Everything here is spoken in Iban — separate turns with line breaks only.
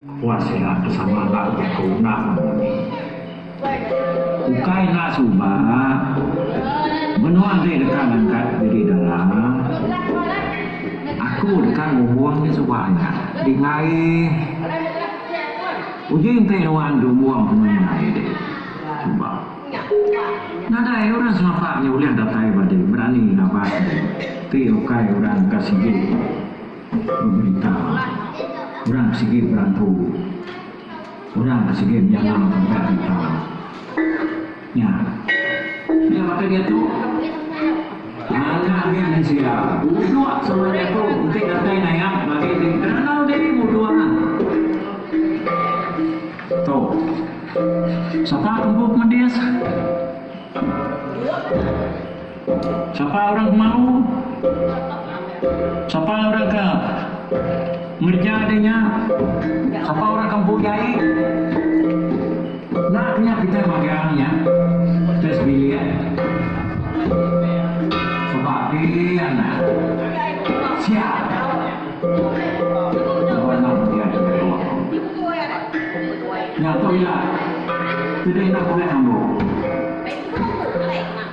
Puas sida ke sama enda ke jaku endang. Ukai enda suba, menua deh deka ngangkat diri dara. Aku deka ngumbung nya suba nya. Dingaih uji enti nuan gumbung penuh indai deh suba. Nadai orang Sarawak nya ulih datai badi berani ngaban deh. Ti ukai orang ka sigi. Pemerintah orang ke sigi berampu orang ke sigi menyala tempat kita nya. Nya baka diatu anak nya mensia udok sama jaku enti datai nayak bagi diri kenang diri mudok ah. Tu. Sapa ke empu ke medis. Sapa orang mau? Sapa orang ka ngereja deh nya? Sapa orang ka empu jai? Enda ke nya kitai magang nya kitai sebilik. Sapa agi anak sia laban enda meriah kitai bawa ko. Nya tu ila. Ti deh enda bulai ambo.